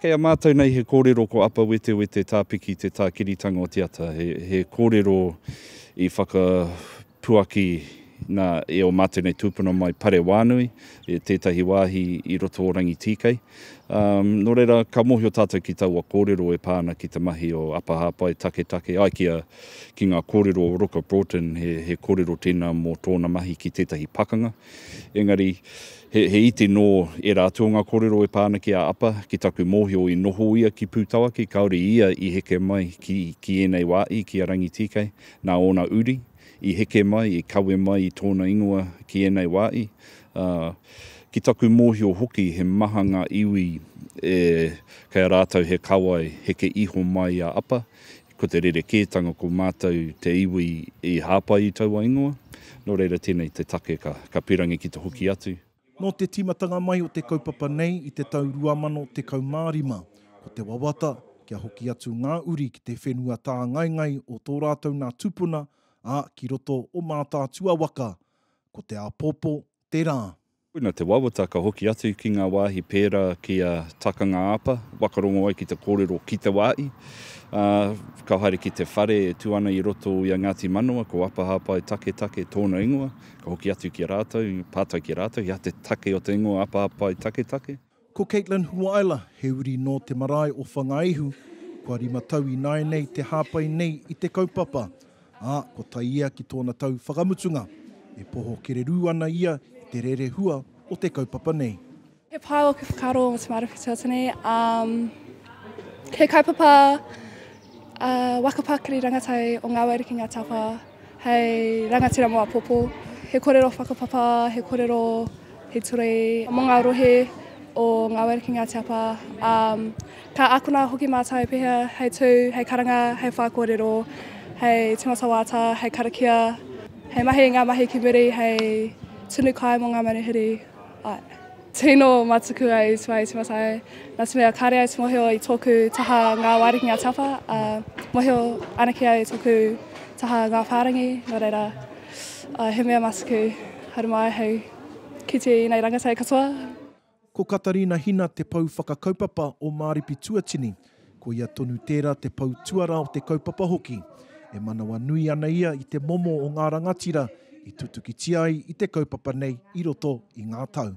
Kei a mātou nei he kōrero ko Apa Wetewete Tāpiki te tākiritanga o te ata, he kōrero i whakapuaki nā e o mātou nei tūpuna mai Parewānui, e tētahi wāhi i roto o Rangitīkei. Nō reira, ka mōhio tātou ki taua kōrero e pā ana ki te mahi o Apa Hāpai Taketake, ai ki a, ki ngā kōrero o Roka Broughton, he, he kōrero tēnā mō tōna mahi ki tētahi pakanga. Engari, he, he iti nō ērā atu o ngā kōrero e pā ana ki a Apa, ki taku mōhio i noho ia ki Pūtawaki, kāore ia i heke mai ki, ki ēnei wā i, ki a Rangitīkei, nā ōna uri, i heke mai, i kawe mai i tōna ingoa ki ēnei wā i. Ā, ki taku mōhio hoki he maha ngā iwi e, kei a rātou he kawai heke iho mai i a Apa, Ko te rerekētanga ko mātou te iwi i hāpai i taua ingoa, nō reira tēnei te take ka pīrangi ki te hoki atu. Nō te tīmatanga mai o te kaupapa nei i te tau 2015, ko te wawata kia hoki atu ngā uri ki te whenua tāngaengae o tō rātou nā tūpuna, ā, ki roto o Mātaatua waka, ko te āpōpō tērā. Koina te wawata ka hoki atu ki ngā wāhi pērā ki a Takanga-a-pa, waka rongo ai ki te kōrero ki te wāhi, ā, ka haere ki te whare e tū ana i roto i a Ngāti Manawa, ko Apa Hāpai Taketake tōna ingoa, ka hoki atu ki a rātou, pātai ki a rātou, he aha te take o te ingoa Apa Hāpai Taketake? Ko Caitlin Huaela, he uri nō te marae o Whangaihu, kua rima tau ināianei te hāpai nei i te kaupapa, ā, kua tae ia ki tōna tau whakamutunga. E poho kererū ana ia i te rerehua o te kaupapa nei. He pai ōku whakaaro mō te Māori Whutū o Tene. He kaupapa. A waka pakari rangatau o Nga Wairuki Nga Tapa hei rangatira mo apopo, he korero whakapapa, he korero he ture mo nga rohe o Nga Wairuki Nga Tapa, a ka akona hoki matou pehea hei tu, hei karanga, hei wha korero, hei timata wata, hei karakia, hei mahi nga mahi ki muri hei tunu kai mo nga manuhiri. Tino matuku a Iwi Tua, Iwi Matai, nā te mea kāre au te mohio i tōku taha ngā wārikinga a te apa, ā, mohio anake au i tōku taha ngā whārangi, nō reira, ā, he mea matuku, haere mai hei kite i ēnei rangatahi katoa. Ko Katarina Hina te pou whakakaupapa o Māripi Tuatini, Ko ia tonu tērā te pou tuarā o te kaupapa hoki. E manawa nui ana ia i te momo o ngā rangatira i tutukitia ai i te kaupapa nei i roto i ngā tau.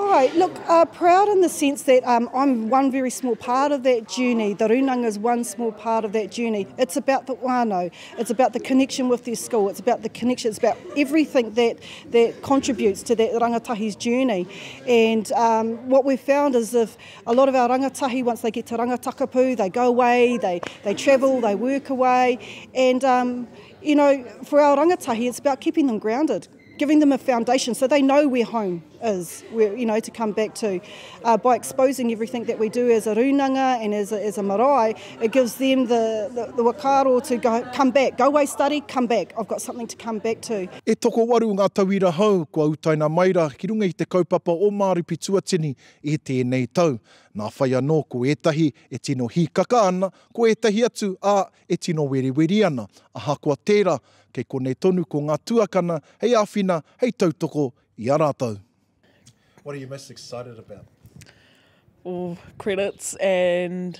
Alright, look, uh, proud in the sense that um, I'm one very small part of that journey. The Runanga is one small part of that journey. It's about the whānau. It's about the connection with their school. It's about the connection. It's about everything that, that contributes to that rangatahi's journey. And um, what we've found is if A lot of our rangatahi once they get to Rangatakapu they go away, they they travel, they work away and um you know for our rangatahi it's about keeping them grounded, giving them a foundation so they know where home is, where you know to come back to. Uh, by exposing everything that we do as a rūnanga and as a, as a marae, it gives them the the, the whakaaro to go, come back, go away study, come back, I've got something to come back to. E tokowaru ngā tauira hou kua utaina mai ra ki runga i te kaupapa o Māori Pituatini I tēnei tau, nā whai anō ko ētahi e tino hīkaka ana, ko ētahi atu, ā, e tino weriweri ana. Ahakoa tērā, kei konei tonu ko ngā tuakana hei āwhina, hei tautoko i a rātou. What are you most excited about? Ooh, credits and.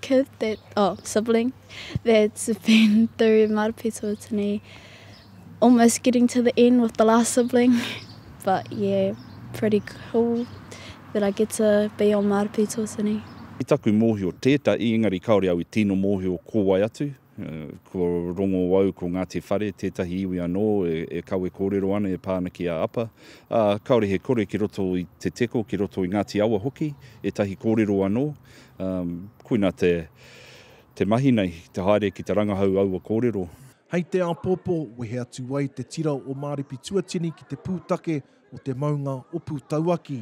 kid that, oh, sibling that's been through Marapetō to me, almost getting to the end with the last sibling. But yeah, pretty cool that I get to be on Marapetō to me. I taku mōhio tētahi, engari kāore au i tino mōhio ko wai atu, Ko Rongowau, ko Ngāti Whare, tētahi iwi anō e kawe kōrero ana e pā ana ki a Apa, ā, kāore he kore ki roto i Te Teko, ki roto i Ngāti Awa hoki, ētahi kōrero anō. Koina te mahi nei, te haere ki te rangahau aua kōrero. Hei te āpōpō, wehe atu ai te tira o Māripi Tuatini ki te pūtake o te maunga o Pūtauaki,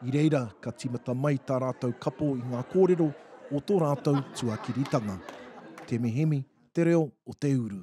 i reira ka tīmata mai tā rātou kapo i ngā kōrero o tō rātou tuakiritanga. Te Mihimi, te reo o te uru.